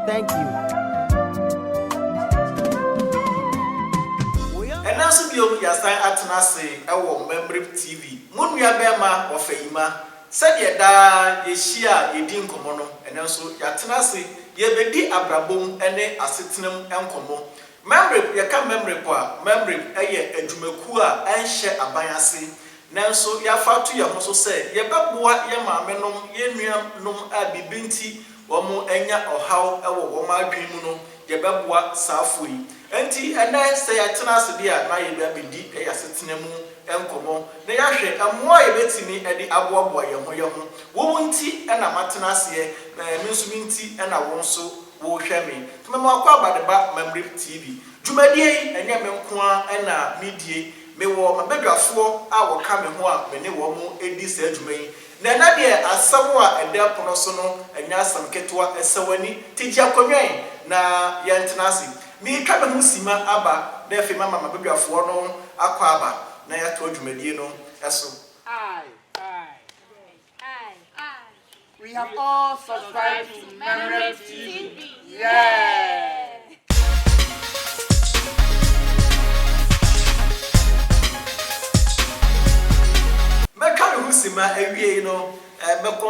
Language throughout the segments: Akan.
Thank you. Ɛnnɛ nso biom yɛasan atena ase wɔ Mmammereb TV, mo nuabɛɛma Wafayima. Sɛdeɛ daa yɛhyia a yɛdi nkɔmmɔ no, ɛnnɛ nso yɛatena ase, yɛrebɛdi abrabɔ mu ne asetena mu nkɔmmɔ. Mmammereb, yɛka Mmammereb a, Mmammereb yɛ adwumakuo a ɛnhyɛ aban ase. Nanso yɛafa ato yɛn ho so sɛ yɛbɛboa yɛn maamenom, yɛn nuanom a biribi nti wɔanya ɔhaw wɔ wɔn adwene mu no, yɛbɛboa saa fo yi. Enti ɛnnɛ, sɛ yɛatena ase de a, na yɛde abɛdi yɛn asetena mu nkɔmmɔ na yɛahwɛ mmoa a yɛbɛtumi de aboaboa yɛn ho yɛn ho. Wo wo nti na matena aseɛ, na me nso me nti na wo nso worehwɛ me. Temamewakɔ Abadeba Mammerɛ TV. Dwumadie yi, ɛnyɛ me nko ara na medie. Mewɔ m'abadwafoɔ a wɔka me ho a me ne wɔn di saa dwuma yi, na ɛnnɛ deɛ asɛm a ɛda ɛpono so no nyɛ asɛm ketewa, sɛ w'ani te gye a kɔwɛn na yɛntena ase. Mereka me ho simma aba na afei mama m'abadwafoɔ no akwaaba na yɛatoa dwumadie no so. We have all subscribed to Memory TV. Yeah! mɛka me ho si ma awiei no eh, mɛkɔ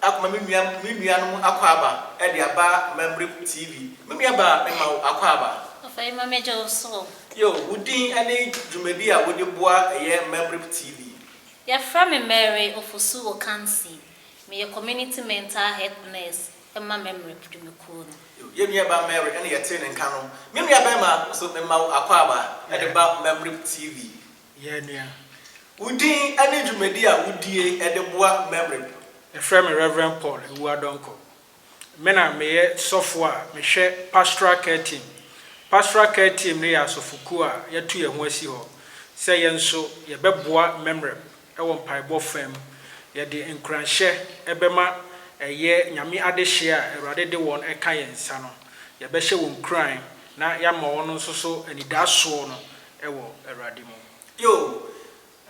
akoma me nua me nuanom akwaaba eh, de aba Memory TV. Me nua ba mema wo akwaaba. Ɔfa yi ma me gye wo so. Yo, wo din ne dwumadi a wode boa ɛyɛ Memory TV. Yɛfrɛ me Mary Ofosu-Okansi, meyɛ Community Mental Health Nurse ma Memre Dwumakuo no. Yɛn nua ba Mary ɛna yɛtee ne nka no. Me nua bɛɛma nso mema wo akwaaba ɛde ba Memre TV. Yɛn nua, wo din ɛne dwumadi a wodie ɛde boa Memre. Yɛfrɛ me Reverend Paul Awuah-Donkor, Me na meyɛ sɔfo a mehwɛ Pastoral Care Team. Pastoral Care Team no yɛ asɔfokuw a yɛato yɛn ho asi hɔ sɛ yɛn nso yɛbɛboa mmɛmmerɛp wɔ mpaebɔ fã mu. Yɛde nkuranhyɛ bɛma ɛyɛ Nyame adehye a Awurade de wɔn ka yɛn nsa no. Yɛbɛhyɛ wɔn nkuran na yɛama wɔn nso so anidasoɔ no wɔ Awurade mu. Yoh.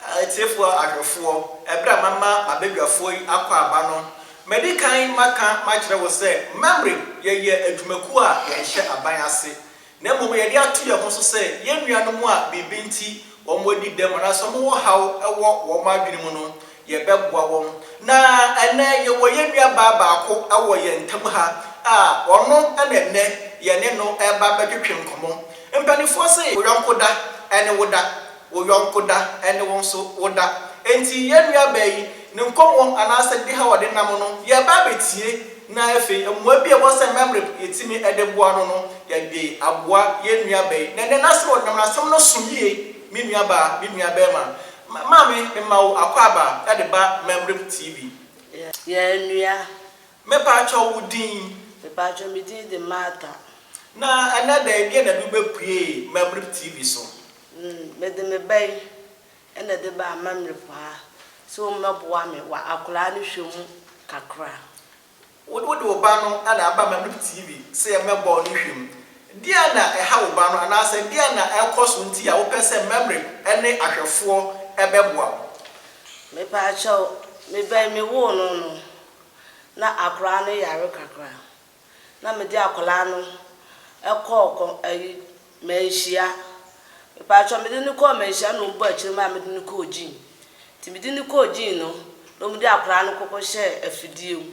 Atiefoɔ, adɔfoɔ, ɛberɛ a mama m'abadwafoɔ yi akɔ aba no, madi kan maka makyerɛ wo sɛ, Mamre, yɛyɛ adwumakuo a yɛnhyɛ aban ase, na mmom yɛde ato yɛn ho so sɛ yɛn nuanom a biribi nti wɔadi dɛm anaasɛ wɔwɔ ɔhaw wɔ wɔn adwene mu no, yɛbɛboa wɔn. Na ɛnnɛ yɛwɔ yɛn nuabaa baako wɔ yɛn ntam ha a ɔno na ɛnnɛ yɛne no reba abɛtwetwe nkɔmmɔ. Mpanimfoɔ se, Wo yɔnko da ne wo da. Wo yɔnko da, ɛnne wo nso woda. Enti yɛn nuabaa yi, ne nkɔmmɔ anaasɛ ne haw a ɔde nam no, yɛreba abɛtie, na afei mmoa bi a ɛwɔ sɛ mɛmmereb yɛtumi de boa no no, yɛde aboa yɛn nuabaa yi. Na ɛnnɛ, n'asɛm a ɔde nam no, asɛm no so yie, Me nuabaa, me nuabarima, maame, mema wo akwaaba de ba Mɛmmereb TV. Yɛn nua. Mepaakyɛw, wo din? Mepaakyɛw, me din de Martha. Na ɛnnɛ da yi, deɛn na ɛde wo bɛpuee Mɛmmereb TV so? N, mede me ba yi na ɛde ba amammerɛ mu ha sɛ ɔmmɛboa me wɔ akwadaa no hwɛ mu kakra. Wo, wode wo ba no na aba amammerɛ mu TV sɛ yɛmmɛbɔ ne hwɛ mu. Deɛn na ɛha wo ba no anaasɛ deɛn na ɛrekɔ so nti a wopɛ sɛ mmammerɛ ne ahwɛfoɔ bɛboa wo? Mepaakyɛw, me ba yi mewoo no no, na akwadaa no yare kakra. na mede akwadaa no kɔɔ kɔ ayi manhyia. Mepaatwa mede no kɔɔ manhyia na wɔn bɔ akyire maa mede no kɔɔ gyin. Nti mede no kɔɔ gyin no na wɔn de akwadaa no kɔkɔ hyɛ afidie mu.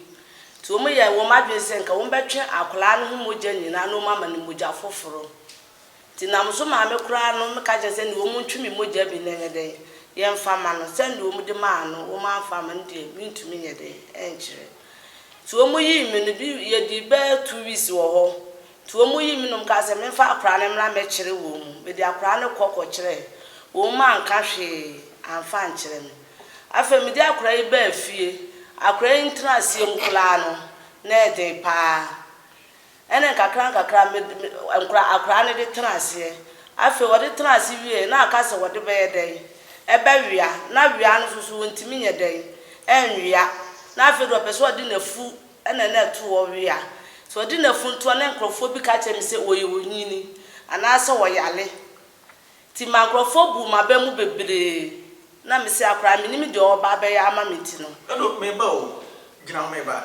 Nti wɔn yɛ wɔn adwene sɛ nka wɔn bɛtwe akwadaa no ho mogya nyinaa na wɔn ama no mogya foforɔ. Nti na mo so maame koraa no meka kyerɛ sɛ nea wɔn ntwe me mogya bi no nyɛ dɛn yɛmfa ma no, sɛ nea wɔn de maa no wɔn amfa amma no deɛ mentumi nyɛ dɛn nkyerɛ. Nti wɔn yii me no bi yɛdii bɛɛ two weeks wɔ hɔ, nti wɔn yii me na wɔn kaa sɛ memfa akwadaa no mmra mɛkyere wɔn, mede akwadaa no kɔ kɔ kyerɛɛ wɔn mu anka hwee amfa ankyerɛ me. Afei mede akwadaa yi baa fie, akwadaa yi ntena aseɛ mu koraa no na ɛyɛ den paa. Ɛnna nkakrankakra me de me nkora akoraa no de tenaa aseɛ. Afei ɔde tenaa ase wieeɛ na ɔka sɛ wɔde bɛyɛ dɛn? Ɛbɛwea. Na wea no nso so wɔntumi nyɛ dɛn? Ɛnwea. Na afei deɛ ɔpɛ sɛ ɔde n'afu na na ɛto hɔ wea. Sɛ ɔde n'afu to hɔ na nkurɔfoɔ bi ka kyerɛ me sɛ wɔyɛ onyini anaasɛ wɔyare. Nti ɛma nkurɔfoɔ buu m'aba mu bebree. Na me se akoraa mennim deɛ ɔreba abɛyɛ ama me nti no. Ɛnna ɔde me ba o, gyina hɔ me ba.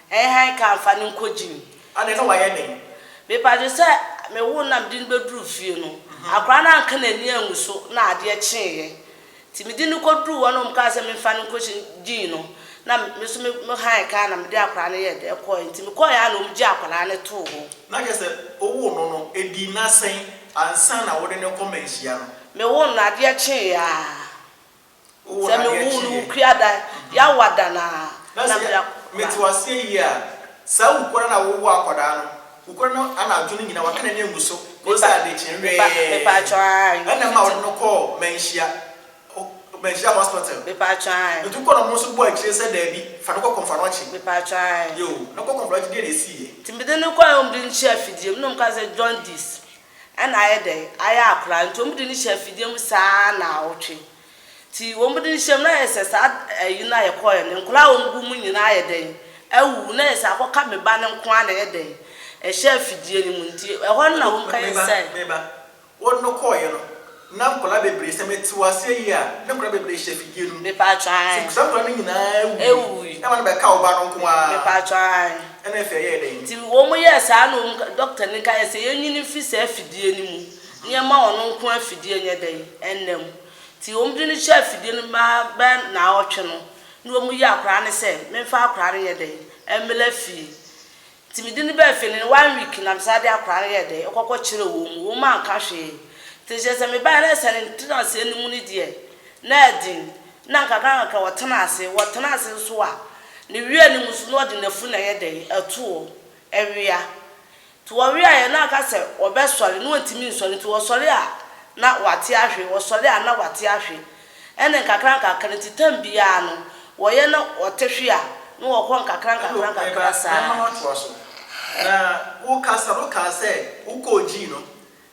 Ɛn han ka nfa no nkɔ gym. Ade no wayɛ den. Mepatwo sɛ me woo no na mede no bɛduruu fie no, akwadaa no anka n'ani angu so na adeɛ kyeeɛ. Nti mede no kɔduruu hɔ na wɔn kaa sɛ memfa no nkɔ gym no, na me nso me me han ka na mede akwadaa no yɛɛ dɛ kɔɔɛ. Nti mekɔɔɛ ara na wɔn gyee akwadaa no too hɔ. Na kyerɛ sɛ wowoo no no ɛdii nna sɛn ansa na wode no rekɔ mmanhyia no? Mewoo no no adeɛ kyeeɛ ara. Sɛ me woo no wo kua dan Yawo ada no aa na me da kɔ kura. Mete waseɛ yie aa saa wo kura na wo wo akɔdaa no wo kura no anadwo no nyina waka nani angu so kɔsi adekye nwɛɛ ɛna ma wode no kɔɔ manhyia manhyia hospital nti wo kɔ no ɔmo nso bɔ akyire sɛ daabi fa no kɔ kɔnfanɔkye yoo na kɔ kɔnfanɔkye deɛ na ɛsiiɛ. Nti mede no kɔɛ ɔmo de no hyɛɛ afidie mu na ɔmo kaa sɛ jaundice ɛna ayɛ dɛn? Ayɛ akora. Nti wɔn de no hyɛ afidie mu saa naawɔtwe. Nti wɔn de no hyɛ mu na ayɛ sɛ saa ayi no a yɛkɔɔɛ no, nkwadaa a wɔn gu mu nyinaa ayɛ dɛn? Awuwu. Na ayɛ sɛ akɔka me ba no nko ara na ɛyɛ dɛn? Ɛhyɛ afidie no mu. Nti ɛhɔ no na wɔn kɔyɛ sɛ. Me ba, me ba, wɔn no kɔɔɛ no, Na nkwadaa bebree, sɛ mete wo aseɛ yie a, na nkwadaa bebree hyɛ afidie no mu. Mepatwɔ ae. Sɛ saa nkwadaa no nyinaa wuiɛ. Ewui. Na ama no bɛka wo ba no nko ara. Mepatwɔ ae. Ɛna afei ɛyɛɛ dɛn? Nti wɔn yɛɛ saa na wɔn, dɔkta no kaeɛ sɛ yɛnyi no mfiri saa afidie no mu na yɛmma ɔno nko ara afidie nyɛ dɛn? Nna mu. Nti wɔn de no hyɛɛ afidie no mu bɛɛ ara bɛyɛ nnawɔtwe no, na wɔyi akwadaa no sɛ memfa akwadaa no nyɛ dɛn? Mmra fie. Nti mede no baa fie no ne one week na mesan de akwadaa no yɛɛ dɛn ɛkɔkɔ kyerɛɛ wɔn mu, wɔn mu anka hwee. Nti kyerɛ sɛ me baeɛ no ɛsɛ ne ntenaseɛ no mu no deɛ na ɛden, na nkakra nkakra ɔtena ase, ɔtena ase nso a ne wea no mu nso na ɔde n'afuru na ɛyɛ dɛn ɛto hɔ ɛwea. Nti ɔweaeɛ na aka sɛ ɔbɛsɔre na ɔntumi nsɔre, nti ɔsɔre a na wate ahwe, ɔsɔre a na wate ahwe, Ɛnna nkakrankakra nti, tam biara no, wɔyɛ na wɔte hwe a, na wɔkɔ nkakrankakra saa. Mɛma woatoa so. Na wokasa no kaa sɛ wokɔɔgyii no.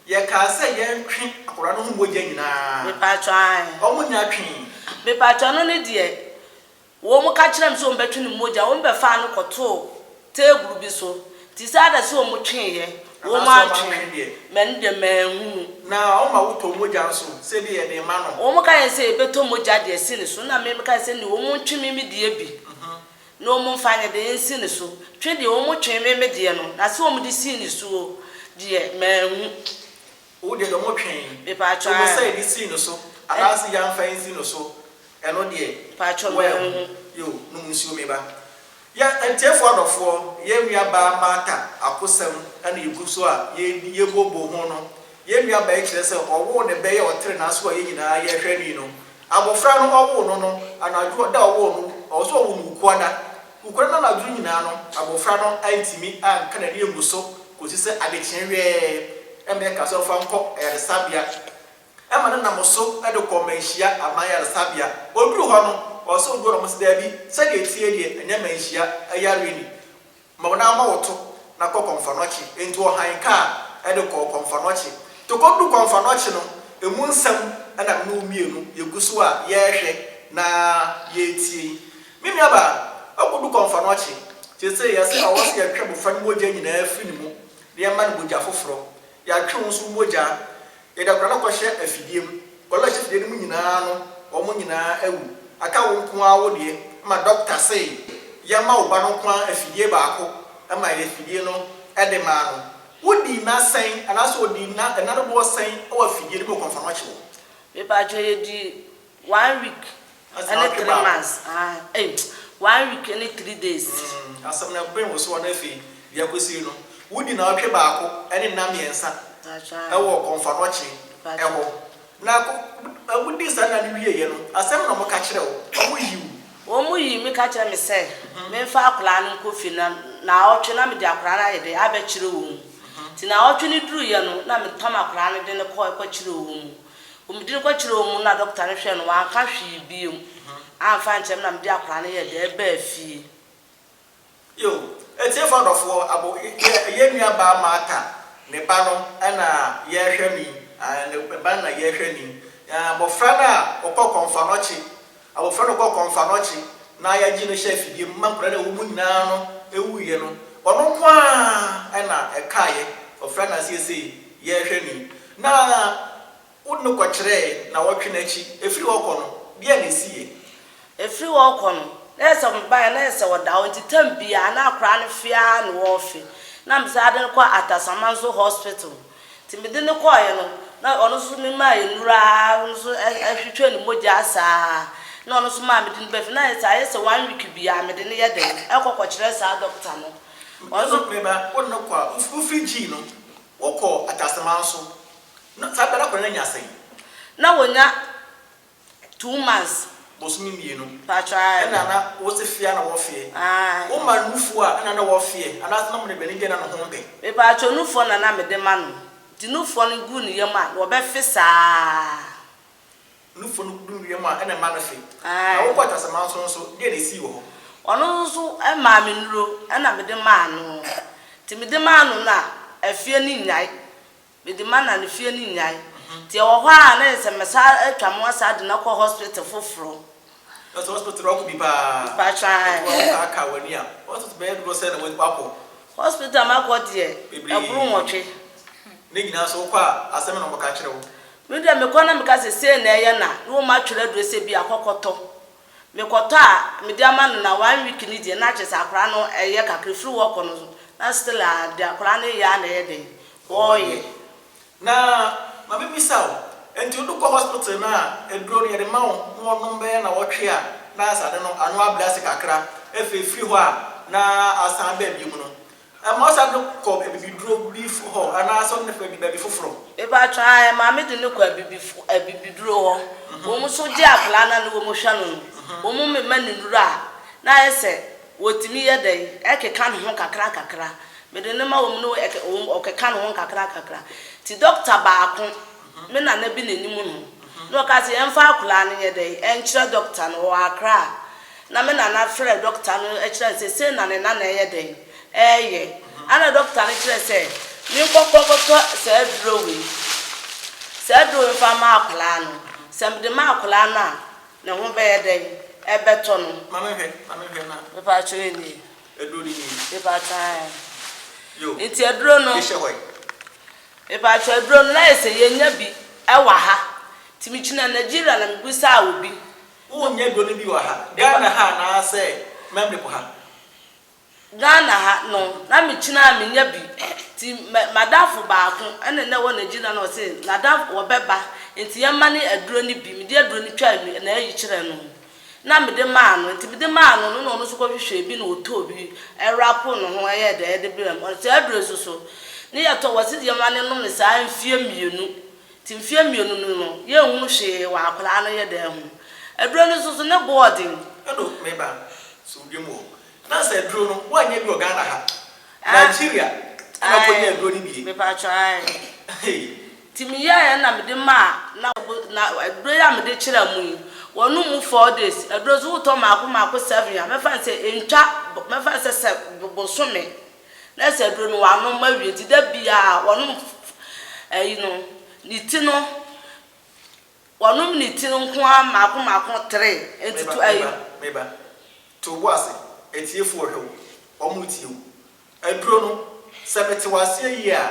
Yɛkaa sɛ yɛntwe akwadaa no ho mogya nyinaa. Mepaatwɔ, aane. Wɔnnya twee. Mepaatwɔ, ɛno no deɛ, Wɔka kyerɛɛ no sɛ wɔbɛtwe ne mogya, wɔbɛfaa no kɔtoo teeburu bi so, te sɛ ada sɛ wɔtweeɛ, wɔantwe me, ɛno deɛ manhunu. Na wɔma wotɔ mogya nso, sɛdeɛ yɛde rema no. Wɔka yɛn sɛ yɛbɛtɔ mogya de asi ne so, na me meka sɛ, Nni, wɔntwe me me deɛ bi, na wɔmfa nyɛ deɛ nsi ne so. Twe deɛ wɔtwee me me deɛ no, na sɛ wɔde sii ne soɔ deɛ, manhu. Wo deɛ dɔmo twɛn. Mepaatwɔ a. Wopɛ sɛ yɛde si no so anaase yɛanfa ansi no so ɛno deɛ. Paatwɔ bɔ wo ho. Yo, nom nsuo me ba. Yɛ atiefoɔ adɔfoɔ, yɛn nua baa Martha akosɛm na yɛgu so a yɛredi, yɛbooboo ho no, yɛn nua baa yi kyerɛ sɛ ɔwoo ne bɛ yɛ ɔtere no aso a yɛn nyinaa yɛrehwɛ no yi no, abɔfra no ɔwoo no no, anadwo da a ɔwoo no, ɔwɔ sɛ ɔwo no Wukuada, Nokorɛ no anadwo nyinaa no abɔfra no antumi anka n'ani angu so kɔsi sɛ adekyeɛ wɛɛ na mɛɛ kaa sɛ ɔmfa nkɔ ayaresabea. Ɛma no nam so de kɔɔ Manhyia aman yaresabea. Ɔduruu hɔ no ɔɔ sɛ ɔduru hɔ na wɔse daabi sɛdeɛ ɛteɛ deɛ ɛnyɛ Manhyia yareɛ ni ma wo nan mmɔ wo to na kɔ Kɔmfanɔkye. Enti ɔhan kaa de kɔɔ Kɔmfanɔkye. Nti ɔkɔduruu Kɔmfanɔkye no ɛmu nsɛm na me ne wo mmienu yɛgu so a yɛrehwɛ na yɛretie yi. Me nuabaa, wakodu kɔmfanoɔkye. Seesei, ɛsɛ sɛ ɔwɔ sɛ yɛtwe abofra no mogya nyinaa firi ne mu na yɛma no mogya foforɔ. Yɛatwe wo nso wo mogya. Yɛde akwadaa no kɔhyɛ afidie mu. Nkwadaa a wɔhyɛ afidie no mu nyinaa no, wɔn nyinaa awu. Aka wo nko ara wo deɛ, ɛma dɔkta se yɛmma wo ba no nko ara afidie baako. Ɛmaa yɛde afidie no de maa no. Wodii nna sɛn anaasɛ ɔdii nna dodoɔ sɛn wɔ afidie no mu wɔ kɔmfanoɔkye hɔ? Me paatwɔ, yɛdii One week ɛne three months aah ei one week ɛne three days. Mm asɛm no ɛben wo soɔ na afei deɛ akɔsie no wodi naawɔtwe baako ɛne nna mmiɛnsa ɛwɔ kɔnfanɔkye ɛhɔ na wodi saa nna no wieɛ no asɛm na wɔka kyerɛ wo wɔn yi wo. Wɔn yi me ka kyerɛ me sɛ menfa akwadaa no nkɔ fie na naawɔtwe na mede akwadaa no ayɛ dɛn abɛkyerɛ wɔn nti naawɔtwe no duruiɛ no na metam akwadaa no de no kɔ ɛkɔkyerɛ wɔn Wɔn din kɔkyerɛɛ wɔn mu na dɔkta no hwɛɛ no, wanka hwee bio amfa ankyerɛ me na mede akwadaa no yɛɛ dɛɛ baa fie. Yoh. Atiefo adɔfoɔ, abo yɛ yɛn nua baa Martha ne ba no na yɛrehwɛ ni, ah, ne ba no na yɛrehwɛ ni, ah, abɔfra no a ɔkɔɔ kɔmfɔnɔkye Abofra no kɔ kɔmfa no ɔkye na yɛgye no hyɛ afidie mu ma nkwadaa no a ɛwɔ mu nyinaa no wuiɛ no, ɔno nko ara na ɛkaeɛ. Ɔfira no aseɛ sei, yɛrehwɛ no yi, na wode no kɔkyerɛɛ nnawɔtwe no akyi. Ɛfiri hɔ kɔ no, deɛn na ɛsiiɛ? Ɛfiri hɔ rekɔ no, na ɛyɛ sɛ mebaeɛ na ɛyɛ sɛ ɔda hɔ, nti tam biara na akwadaa no fe ara na ɔrefe. Na mesan de no kɔ Atasamanso Hospital. Nti mede no kɔeɛ no, na ɔno nso memaa nnuro ara, ɔno nso twitwaa ne mogya saa ara, na ɔno nso maa mede no baa fie, na ayɛ sɛ ayɛ sɛ one week biara mede no yɛ dɛn, ɛkɔ kɔkyerɛ saa dɔkta no. Ɔno nso. Mema wode no kɔ a, wofiri gyii no, wokɔɔ Ataseman so, na saa berɛ no akwadaa no anya sɛn? Na ɔnya Two months. Bosome mmienu. Mpakyɛ ae. Ɛna na wose feɛ na wɔfeɛ. Ae. Wo ma nufoɔ a ɛna na wɔfeɛ anaa sɛ na wɔde bɛne deɛ na ne ho mpɛ. Mepakyɛ nufoɔ na na mede ma no. Nti nufoɔ no gu ne yam a na wɔbɛfe saa. Nufoɔ no gu ne yam a ɛna ɛma no fe. Ae. Na wokɔ Ataseman so nso deɛ na ɛsii wɔ hɔ. Ɔno nso so maa me nnuro ɛna mede maa no. Nti mede maa no no a afeɛ no nnyae. Mede mana no fie no nyae. Nti ɛwɔ hɔ ara a na yɛ sɛ mɛsan atwa mo asan de no akɔ hospital foforo. Ɛsɛ hospital no ɔko bi paa. Mpakyɛ ae. Ɛfo a wotaa kaa w'ani a, hospital bɛyɛ dodoɔ sɛn na wakɔ? Hospital a makɔ deɛ, ɛboro nwɔtwe. Ne nyinaa nso wokɔ a, asɛm bɛn na wɔbɛka akyerɛ wo? Me deɛ mekɔ na meka sɛ sei na ɛyɛ na, na wɔatwerɛ aduro sɛ bi a kɔ kɔtɔ. Mekɔtɔ a mede ama no na one week no deɛ na kyerɛsɛ akwadaa no ɛyɛ kakra ɛfiri hɔ kɔ no na still a deɛ akwadaa no yɛ a na ɛyɛ dɛn ɔɔyɛ. Na ma me bisa wo, ɛnti wo de kɔ hospital no a aduro no yɛde ma wo na wɔnom bɛyɛ nawɔtwe a na asɛ ade no ano abrɛ ase kakra ɛfei ɛfiri hɔ a na asan aba bio mu no Ɛma ɔsan de kɔ abibiduro bi hɔ anaasɛ ɔde no kɔ baabi foforɔ? Mepaatwɔ aa ɛma me de no kɔ abibifo abibiduro hɔ wɔn nso gye akwadaa no a ne wɔn hwɛ no no wɔn mema no nnuro a na ayɛ sɛ wɔtumi yɛ dɛn ɛkeka ne ho kakra kakra mede no ma wɔn ne ɛkɛ wɔn ɔkeka ne ho nkakra nkakra nti dɔkta baako me nana bi na ɛnim no na ɔka sɛ yɛmfa akwadaa no nyɛ dɛn ɛnkyerɛ dɔkta no wɔ Accra a. na me nana frɛɛ dɔkta no kyerɛɛ no sɛ sei na ne nana reyɛ dɛn? reyɛ. Ɛnna dɔkta no kyerɛɛ sɛ menkɔkɔ nkɔtɔ saa aduro wei, saa aduro wei mfa mma akwadaa no. Sɛ mede ma akwadaa no a, ne ho bɛyɛ dɛn? Ɛbɛtɔ no. Ma me nhwɛ, ma me nhwɛ na. Mepaatwo wei nie. Aduro no nie. Mepaatwo ae. Yo. Nti aduro no. Mehyɛ hɔ yi. Mepaatwo aduro no na ayɛ sɛ yɛnnya bi wɔ ha. Nti megyina Nigeria na mebisaa obi Wo nyɛ dɔ no bi wɔ ha. Ghana ha anaa sɛ memory po ha. Ghana ha no na me kyina a menya bi nti madamfo baako ɛna na ɛwɔ Nigeria na ɔse nadam ɔbɛba nti yɛma no aduro no bi mede aduro no twaa nu na ayi kyerɛ no na mede maa no nti mede maa no no na ɔno nso kɔ hwehwɛɛ bi na ɔtɔɔ bi ɛwrapo ne ho ɛyɛɛ dɛɛ de brɛɛ me ɔse saa aduro yi nso so ne yɛtɔ wɔ se yɛma no nome saa mfeɛ mmienu Te mfeɛ mmienu no no, yɛnhu hwee wɔ akwadaa no yɛ dan ho. Aduro no nso so, ne boɔ ɔden. Ɛno, me ba, sɛ wodwa mu hɔ, na sɛ aduro no, woannya bi wɔ Ghana ha, Nigeria na wokɔnya aduro no bie. Mepaatwɔ, ae. Nti meyɛeɛ na mede maa, na wɔbo, na aduro yi a mede kyerɛɛ mo yi, wɔnom mu four days. Aduro no nso, wotɔ mmaako mmaako seven a, mɛfa no sɛ ɛntwa, mɛfa no sɛ sɛ bosome na sɛ aduro no wanom awie nti da biara wɔnom ɛyi no ne ti no wɔnom ne ti no nko ara mmaako mmaako tere nti to ɛyi. meba meba to obo ase atiefoɔ hwɛ wo wɔn retie wo aduro no sɛ mete wo aseɛ yie a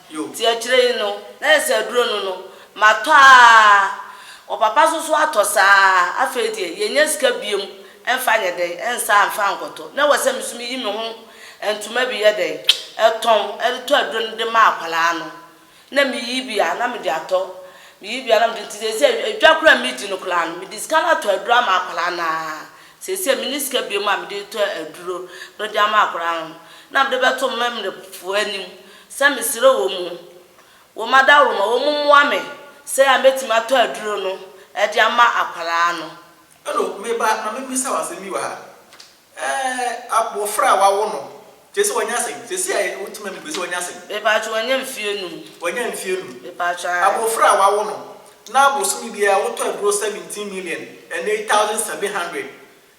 Nti akyire yi no, na yɛ sɛ aduro no no, matɔ ara, ɔpapa nso so atɔ saa ara, afei deɛ yɛnnya sika biom mfa nyɛ dɛn, nsa mfa nkɔtɔ, na ɛwɔ sɛ me nso me yi me ho ntoma bi yɛ dɛn, tɔn de tɔ aduro no de ma akwadaa no, na me yi bi a na me de atɔ, me yi bi a na me de, nti seesei adwa koraa a me di no koraa no, me de sika no atɔ aduro ama akwadaa no ara, seesei me nni sika biom a me de retɔ aduro no de ama akwadaa no, na me de bɛto me mmerɛfoɔ anim. Sɛ mesrɛ wɔn o, wɔn adaworoma, wɔn mmoa me sɛdeɛ a mɛtumi atɔ aduro no de ama akwadaa no. Hello, me ba, ma me bisa wo asem bi wɔ ha. Ɛɛ, abofra a wawo no, kyerɛ sɛ wanya sɛn? Sɛsi a wo te ma me bue sɛ wanya sɛn? Me paatwo wanya mfie num. Wanya mfie num. Me paatwo aa. Abofra a wawo no, na bosome biara wotɔ aduro seventeen million and eight thousand seven hundred,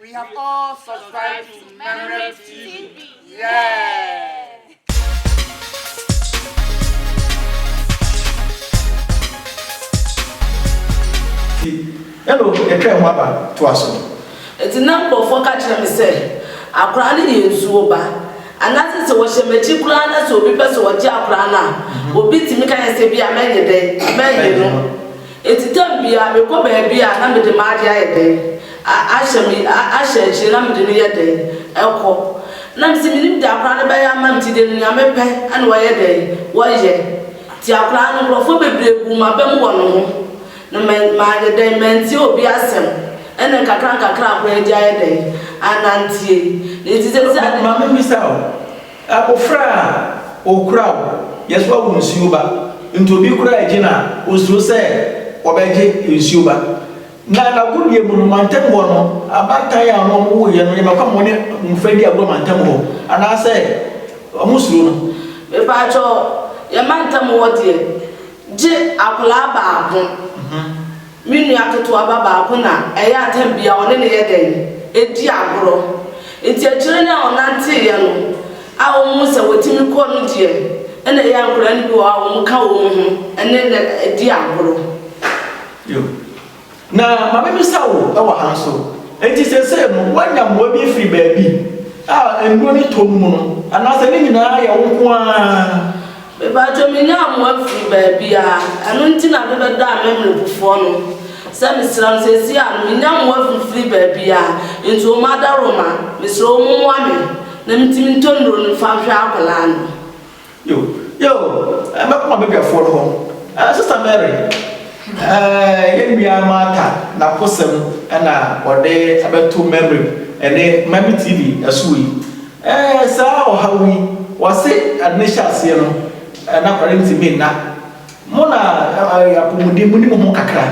We have all subscribed to Memory TV. Yeah. ɛna ɛtwa ho aba to aso. eti na nkurɔfoɔ ka kyerɛ me sɛ akwaraa no yɛ nsuo ba anaasɛ sɛ wɔhyɛ m'akyi koraa na sɛ obi pɛ sɛ ɔgye akwaraa no a mhm. obi tumi ka yɛ sɛ bi a mɛnyɛ dɛ mɛnyɛ no. Enti tam biara mekɔ baabi a na mede m'ade ayɛ dɛn? a ahyɛ me a ahyɛ akyire na mede no yɛ dɛn? kɔ. Na mese mennim deɛ akwadaa no bɛyɛ ama me nti deɛ no nea mepɛ na wɔyɛ dɛn? wɔyɛ. Nti akwadaa no nkorɔfoɔ bebree buu m'aba mu wɔ ne ho na ma mayɛ dɛn? mantie obi asɛm ɛna nkakra nkakra akwadaa yi de ayɛ dɛn? anantie. Nti sɛ sɛ. Maame mbisa wo, Abofra a okura wo yɛ so a wo nsuo ba nti obi kura agyi no a osuro sɛ ɔbɛgye nsuo ba. Na n'agodie mu no mantam hɔ no abaatan a ɔno ɔmo woyɛ no yɛ ma kɔ ma ɔne mmofra di agorɔ mantam hɔ anaa sɛ ɔmo suro no. Mepaatwɔ yɛ mantam hɔ deɛ gye akwadaa baako. Me nua ketewa ba baako na ɛyɛ a tɛm biara ɔne no yɛ dɛn? Edi agorɔ. Nti akyire no a ɔnanteeɛ no a wɔhuu sɛ watumi kɔ no deɛ na ɛyɛ a nkwadaa no bi wɔ hɔ a wɔka wɔn ho ne no di agorɔ. Yiw. Na ma mebisa wo wɔ ha nso, enti seesei no woanya mmoa bi afiri baabi a nnuro no tɔ no mu no, anaasɛ ne nyinaa yɛ wo nko ara? Mepaatwo menya amoa firi baabiaa ɛno nti na mebɛda amɛmrɛpufoɔ no sɛ mesrɛ mo sesie a menya amoa firi baabiaa nti ɔmo adaworo ma mesrɛ ɔmo moa me na metumi ntɔ nnuro no mfa nhwɛ akwadaa no. Yo yo mɛkɔ m'abadwafoɔ no hɔ eh Sister Mary eh yɛn nua Martha n'abosɛm na ɔde abɛto Mɛmrɛp ɛnɛ Mame TV ɛso yi. Ɛɛ, saa ɔhaw yi, wɔse ade no hyɛ aseɛ no, na akware ntumi nna. Mo na ɛyɛ apɔmuden, moni mo ho kakra.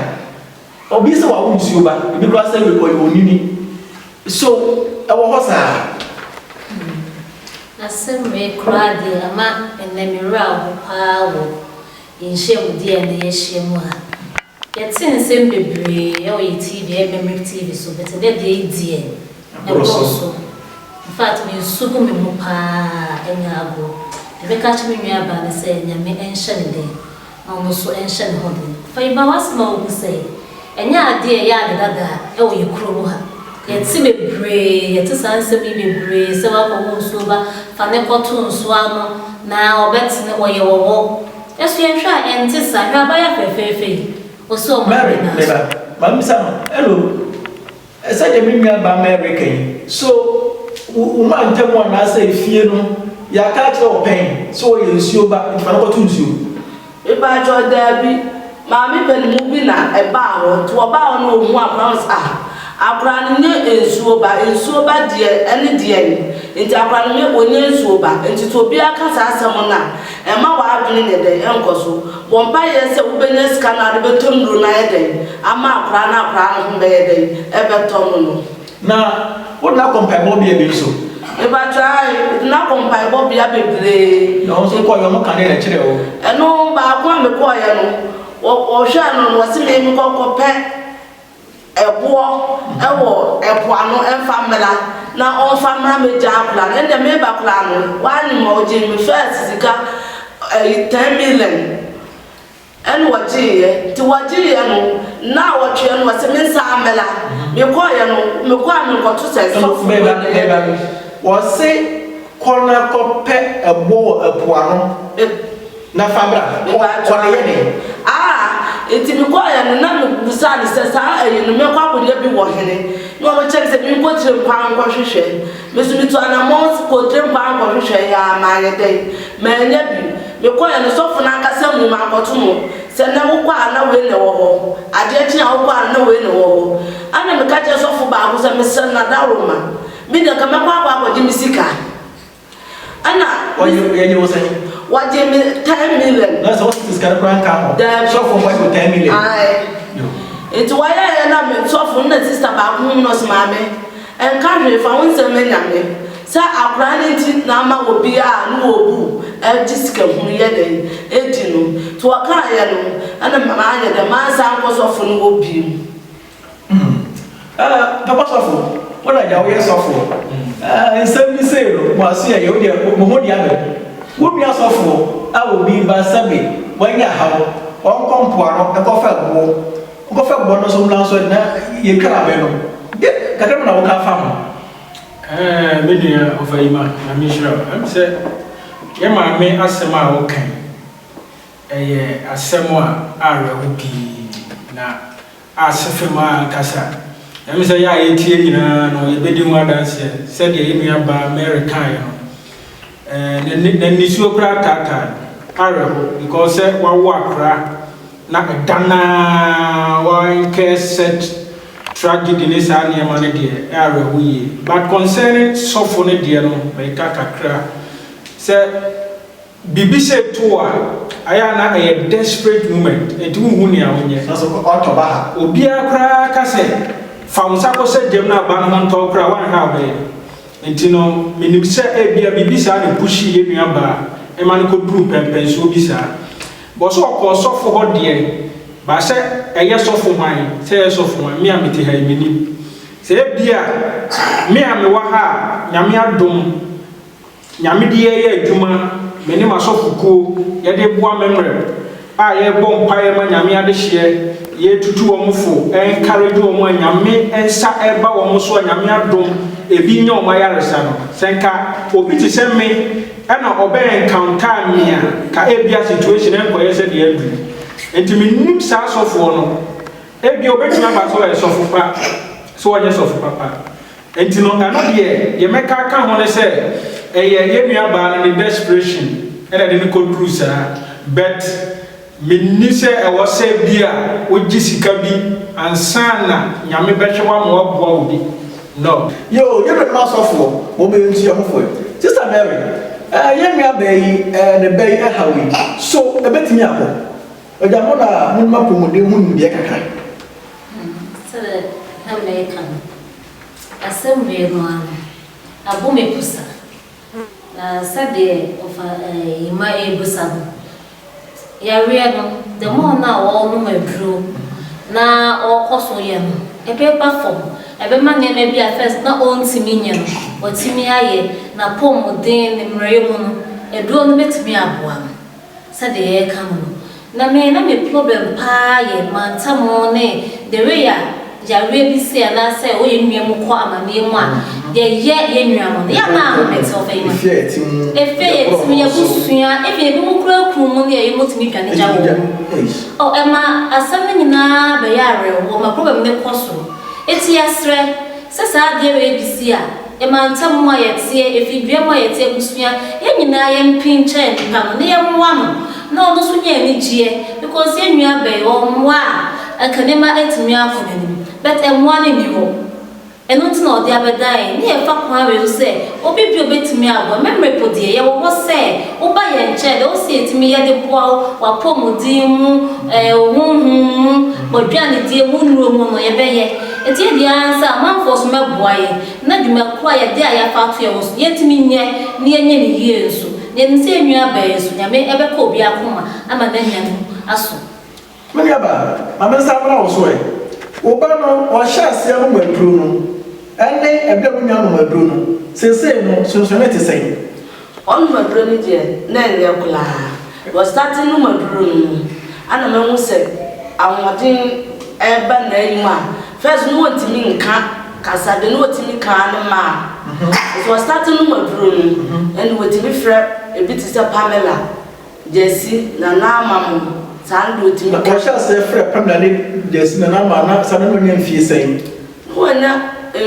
Obi sɛ wawo nsuo ba, ebi koraa sɛ ɔyɛ onini. So ɛwɔ hɔ saa? Asɛm wei koraa deɛ ama ɛnnɛ me werɛ ahow paa wɔ nhyiamudeɛ a ɛnnɛ yɛahyia mu ha. Yɛtse nsɛm beberee wɔ yɛ TV, yɛ memory TV so, bi tse dɛ dza edzi ɛ, bor so. In fact, me nsu gu me ho paa enya agor. Dza mɛka akyerɛ me nuabaa nye sɛ Nyame nhyɛ no den na ɔno so nhyɛ no ho den. Fa yi ba w'ase ma wohu sɛ ɛnnyɛ ade a ɛyɛ ade dada wɔ yɛ kuro mu ha. Yɛtse beberee, yɛtse saa nsɛm yi beberee sɛ wakɔ wo nsuo ba, fa no kɔto nsuo ano na ɔbɛtene hɔ, yɛwɔ hɔ. Ɛso yɛ hwɛ a ɛnte saa. Hwɛ abaayewa fɛfɛɛfɛ yi, ɔsɛ ɔma no Mary, me ba, n'aso. ma mibisa no, Hello, sɛdeɛ me nua baa Mary reka yi, so wo wo mantam hɔ anaasɛ efie no yɛaka akyerɛ wɔ pɛn sɛ ɔyɛ nsuo ba, nti ma no kɔto nsuo? Me paatwɔ, daabi. Maame panin mu bi na ɛbaa hɔ nti ɔbaa hɔ na ɔhuu akwadaa no ɔse ah akwadaa no nyɛ nsuo ba, nsuo ba deɛ ɛne deɛn nti akwadaa no nyɛ ɔnyɛ nsuo ba nti sɛ obiara ka saa asɛm no a ɛmma w'adwene nyɛ dɛn nkɔ so, bɔ mpaeɛ sɛ wobɛnya sika no a wode bɛtɔ nnuro no ayɛ dɛn ama akwadaa no akwadaa no ho bɛyɛ dɛn ɛbɛtɔ no no. Na wodena kɔ mpaebɔbea bi nso? Mepakyɛ ae, medena kɔ mpaebɔbea bebree. Na wo nso kɔeɛ wɔka ne na kyerɛɛ wo? Ɛno baako a mekɔeɛ no, wɔ wɔhwɛɛ no no wɔse me nkɔ kɔpɛ ɛboɔ ɛwɔ ɛpo ano ɛmfa mmra na ɔmfa mmra mɛgya akora no ɛnna meba koraa no, woanyem a ɔgyee me first sika ɛyi ten million Ɛna wɔgyeeɛ. Nti wɔgyeeɛ no, nnaawɔtweɛ no, wɔse mensan mmɛla. Mekɔeɛ no, mekɔ a menkɔto sɛ sɛ ɔforo wei na ɛyɛ dɛn. Wɔse kɔ na kɔpɛ ɛboɔ wɔ ɛpo ano na fa bra. Kɔ na yɛ dɛn? Aa! Nti mekɔeɛ no, na mebisaa no sɛ saa ayi no mɛkɔ akɔyɛ bi wɔ hene? Na ɔbɛkyerɛ me sɛ menkɔ Kyirempa nkɔhwehwɛ. Me nso metu anamɔn kɔɔ Kyirempa nkɔhwehwɛeɛ a, mayɛ dɛn? Mannya bi. Mekɔeɛ no, sɔfo no ankasa muu me akɔto mu sɛ, Nnɛ wokɔ a na wei na ɛwɔ hɔ, adeɛ kye a wokɔ a na wei na ɛwɔ hɔ. Ɛnna meka kyerɛɛ sɔfo baako sɛ, Mesrɛ no, na daworo ma me deɛ, nka mɛkɔ akɔ akɔgye me sika. Ɛnna Wɔgye wɔgye wo sɛn? wɔgyee me ten million. Na sɛ wosisi sika no koraa nka ho. Daabi. Sɔfo nko agye wo ten million. Ae. Yo. Nti wɔyɛeɛ na me, sɔfo no na sista baako huu no, ɔse, Maame, Ɛnka hwee fa ho nsɛm ma Nyame. Sɛ akora no nti na ama obi a ne wɔ bu ɛregye sika hunu yɛ dɛn ɛdi no nti wɔkaa yɛ no ɛna ma no ayɛ dɛn ma ansan nkɔ sɔfo no hɔ bio. Hmm ɛɛ papa sɔfo wo na gya wo yɛ sɔfoɔ ɛɛ nsɛm bi sei no mo aso yɛ yɛ wo deɛ mo ho deɛ abɛ mu wo nua sɔfoɔ a obi ba sɛbe wanya haw ɔnkɔ mpoano ɛkɔ fa abuo Nkɔfa bɔ no so mmra nso ɛ na yɛtwa abɛn no de kakra bi na wo ka fa ho. Ɛɛɛ me nua Ofayima Nyame nhyira wo ɛm sɛ yɛ maame asɛm a wo ka yi ɛyɛ asɛm a awerɛho pii na asefe mu ankasa ɛm sɛ yɛ a yɛtie nyinaa no yɛbɛdi ho adanseɛ sɛdeɛ yɛ nua baa Mary kaeɛ no Ɛɛ na nisuo koraa taa tan awerɛho because sɛ wawo akora na ɛda no ara wa incur such tragedy ne saa nneɛma no deɛ ɛyɛ awerɛho yie. But concerning sɔfo no deɛ no meka kakra sɛ biribi sei to wo a ayɛ a na ɛyɛ desperate moment nti wonhu nea wonyɛ. Na so ɔtɔ ba ha. Obiara koraa ka sɛ fa wo nsa kɔsɛ gyam na aba no ho ntɔ wo koraa a woanhwɛ a wobɛyɛ. Enti no, minim sɛ ebia biribi saa na pushii yɛn nua baa ma no koduruu pɛnpɛnsoɔ bi saa. But sɛ ɔkɔɔ sɔfo hɔ deɛ, but sɛ ɛyɛ sɔfo hwan, sɛ ɛyɛ sɔfo hwan, me a mete ha yi, mennim. Sɛ ebia me a mewɔ ha a, Nyame adom, Nyame de yɛn yɛ adwuma, me ne m'asɔfokuo, yɛde boa me mmerɛ. a yɛbɔ mpaeɛ ma Nyame adehyeɛ, yɛtutu wɔn fo, encourage wɔn a Nyame nsa reba wɔn so a Nyame adom ebi nya wɔn ayaresa no, sɛ nka obi te sɛ me na ɔbɛ encounter me a, nka ebia situation renkɔyɛ sɛdeɛ aduru. Nti mennim saa asɔfoɔ no, ebia obetumi aba sɛ ɔyɛ sɔfo pa, sɛ ɔnyɛ sɔfo papa. Nti no ɛno deɛ deɛ mɛka aka ho ne sɛ ɛyɛ yɛn nua baa no ne desperation na ɛde no kɔ duru saa but me nni sɛ ɛwɔ sɛ bi a wo gye sika bi ansa na Nyame bɛhwɛ wo ama waboa wo bi no. Yoo yɛn nuanom asɔfoɔ mo mo ntua ho fɔ yi. Sister Mary, eh yɛn nua baa yi eh ne bɛ yi ɛhaw yi so ɛbɛtumi akɔ? Ɔgya mo na monim apɔmuden ho nimdeɛ kakra. Sɛdeɛ na mereka no, asɛm wei no ara no abɔ me pusa, na sɛdeɛ ɔfa Yima rebusa no, yareɛ no, the more no a wɔrenom aduro na ɔrekɔ so yɛ no, ɛbɛba fam, ɛbɛma nneɛma bi a first na ɔntumi nyɛ no, watumi ayɛ, n'apɔmuden, ne mmerɛyɛ mu no, aduro no bɛtumi aboa no. Sɛdeɛ yɛreka no no, na me na me plɔbɛm paa yɛ mantam ne the way a yareɛ bi se anaa sɛ wo yɛn nua mu kɔ amaneɛ mu a yɛyɛ yɛn nua no no yɛ a na ho mete wo fɛ yɛn efie yɛ ti mu yɛ abusua even ebi mu kura kunu mu ne yɛ wɔtumi dwane gya wɔn mu oh ɛma asɛm no nyinaa bɛyɛ awerɛhoɔ ma plɔbɛm no kɔ soro eti yɛsrɛ sɛ saa adeɛ wei bi si a. Mmantam mu a yɛteɛ, ɛfiri dua mu a yɛteɛ abusua, yɛn nyinaa yɛn pin kyɛn nnipa no, na yɛn mmoa no, na ɔno nso nya anigyeɛ, because yɛn nua bɛn, ɔwɔ mmoa a, anka nneɛma atumi akɔ n'anim, but mmoa no nni hɔ, ɛno nti na ɔde abɛdan yɛn, na yɛ fa kwan wei so sɛ, obi bi a obɛtumi aboa, me mmere po deɛ, yɛ wɔ hɔ sɛ, wo ba yɛn nkyɛn, deɛ wo se yɛtumi yɛ de boa wo, wɔ apɔmuden mu, ɛɛ, wo honhom mu, wɔ aduanedie mu, wo nnuro mu no, yɛbɛyɛ. Ɛteɛ deɛ ara nso a, amanfoɔ so mmɛboa yɛn, na dwuma ko a yɛde a yɛafa ato yɛn ho so no, yɛntumi nyɛ, na yɛnyɛ no yie nso. Na yɛnim sɛ yɛn nuabaa yi nso, Nyame ɛbɛka obi akoma ama no anya mu aso. Me nuabaa, ma me nsa mmra wo so ɛ. Wo ba no, ɔhyɛ aseɛ nom aduro no. Ɛnne ɛberɛ a wonnya nom aduro no, seesei no, sonsonee te sɛn? Ɔnomaduro no deɛ na ɛnyɛ koraa. Wɔ starting nomaduro no mu ana mahu sɛ ahoɔden reba n'ayi mu a first no ɔntumi nka kasa deɛ na ɔtumi ka ara ne ma'am. Nti wɔ starting nomaduro no ɛna ɔtumi frɛ ɛbi te sɛ Pamela, Gyasi, Nana Ama mo saa no deɛ ɔtumi ka. Na ɔhyɛ aseɛ frɛ Pamela ne Gyasi, Nana Ama a na saa no na ɔnya mfie sɛn? Na oennya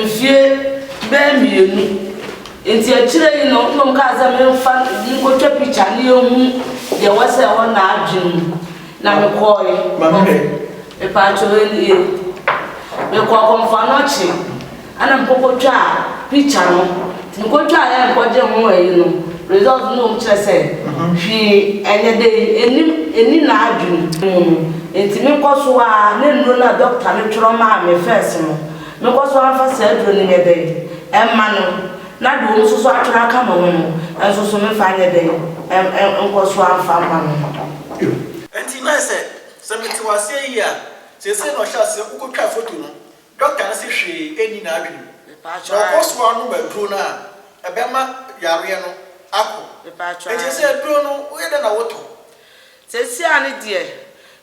mfie bɛyɛ mmienu ntsi ekyir yi no nna ɔkaa dɛ memfa no monkotwa picture na yeehu deɛ wɔsɛɛ hɔ n'adwen mu. Na mekɔɔe. Ma me hwɛ. Mepaakyɛw enie. Mekɔɔ Komfo Anokye na mekɔkɔtwaa picture no. Nkotwa a yɛnkɔgye ho ayi no results no wom kyerɛ sɛ hwee ɛnyɛ dɛ ɛnnim ɛnni n'adwene mu no nti me kɔ so ara ne nnuro no a doctor no twerɛ maa me first no me kɔ so ara fa saa aduro no nyɛ dɛn ɛmma no na deɛ wɔn nso so atwerɛ aka me ho no nso so me fa nyɛ dɛn ɛm nkɔ so ara mfa mma no. Ɛnti na ayɛ sɛ sɛ me te wo aseɛ yie a seesei na ɔhyɛ aseɛ wokɔ twaa photo no Dɔkta no se hwee nni n'adwene mu, na ɔkɔ so ara nom aduro no a, ɛbɛma yareɛ no akɔ. Enti sɛ aduro no, woyɛ dɛn na wotɔ? Seesei ara no deɛ,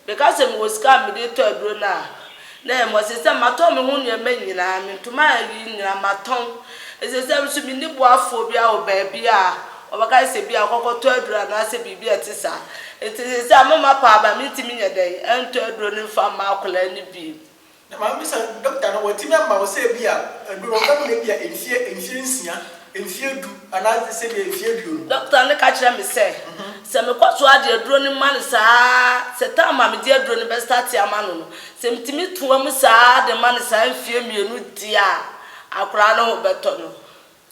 meka sɛ mewɔ sika a mede retɔ aduro no a, na ɛyɛ mmerɛ. Seesei matɔn me ho nneɛma nyinaa, me ntoma a ayiyi nyinaa matɔn. Enti seesei ara nso menni boafoɔ biara wɔ baabi a wɔbɛka sɛ ebia kɔkɔtɔ aduro anaasɛ biribi a ɛte saa. Enti seesei ara mema paa, but mentumi nyɛ dɛn ntɔ aduro no mfa mma akwadaa no bi. Na maame bisa no, Dɔkta no, watumi ama wo sɛ ebia aduro no ɔbɛnom no ebia mfeɛ mfeɛ nsia, mfeɛ du anaasɛ sɛdeɛ mfeɛ aduonu? Dɔkta no ka kyerɛ me sɛ, sɛ mekɔ so ara de aduro no ma no saa ara, sɛ time a mede aduro no bɛstate ama no no, sɛ metumi toa mu saa ara de ma no saa mfeɛ mmienu deɛ a, akwadaa no ho bɛtɔ no.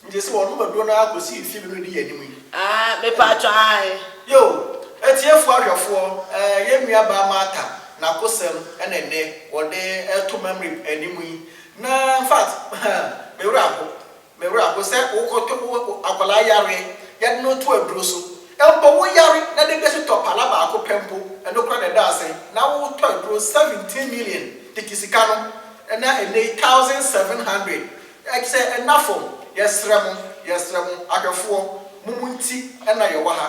Nti sɛ wɔnom aduro no ara kɔsi mfeɛ mmienu na ɛdi yɛn anim yi? Aah mepaatwɔ ae. Yoo, atiefoɔ ahwɛfoɔ, eh, yɛn nua baa Martha n'akosɛm na ɛnnɛ wɔde reto Mamre anim yi, na in fact, huh, me werɛ aho, me werɛ aho sɛ wokɔtɔ wo akwadaa yareɛ, yɛde no to aduro so, mpo wo yare na dede so tɔ pala baako pɛ mpo, ɛno koraa na ɛda asɛn, na wotɔ aduro seventeen million tete sika no, na ɛnnɛ yi thousand seven hundred Ɛkyɛ nna fam, yɛsrɛ mo, yɛsrɛ mo, ahwɛfoɔ, mo mo nti na yɛwɔ ha,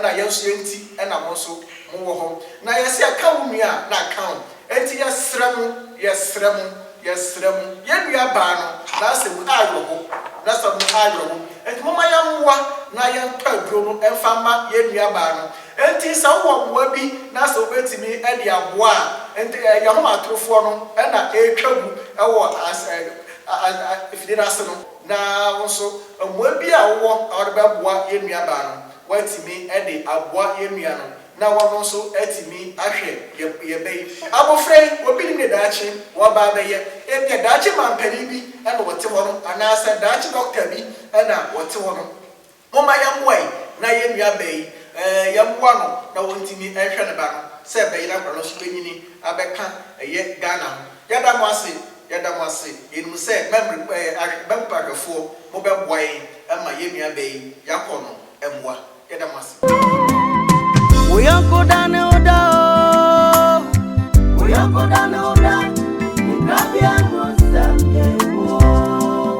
na yɛn nso yɛn nti na mo nso mo wɔ hɔ. Na yɛse yɛka wo nua a, na ka wo. Enti yɛsrɛ mo, yɛsrɛ mo, yɛsrɛ mo, yɛn nua baa no, na asɛ mu awerɛho, na sɛ mo awerɛho, enti momma yɛn mmoa na yɛn tɔ aduro no mfa mma yɛn nua baa no. Enti sɛ wo wɔ mmoa bi na sɛ wo bɛtumi de aboa a, enti yɛn ahomatorofoɔ no na ɛretwa gu wɔ as, afidie no ase no. Na wo nso, mmoa bi a wowɔ a wode bɛboa yɛn nuabaa no, woatumi de aboa yɛn nua no na ɔno nso atumi ahwɛ yɛn ba yi. Abɔfra yi, obi nim deɛ daakye wɔba abɛyɛ. Ebia daakye mampanin bi na ɔte hɔnom, anaasɛ daakye dɔkta bi na ɔte hɔnom. Momma yɛmmoa yi na yɛn nuabaa yi, eh, yɛmmoa no na ɔntumi nhwɛ ne ba no sɛ bɛyera akwadaa no nso bɛnyini abɛka ɛyɛ Ghana ho. Yɛda mo ase, yɛda mo ase. Yɛnim sɛ mɛmre, eh, ahwɛ, mɛmpa ahwɛfoɔ, mobɛboa yɛn ma yɛn nuabaa yi yɛakɔ no mmoa. Yɛda mo ase. Wo yɔnko da ne wo da oh. Wo yɔnko da ne wo da. Nkrabea ho nsɛm yɛ wo oh.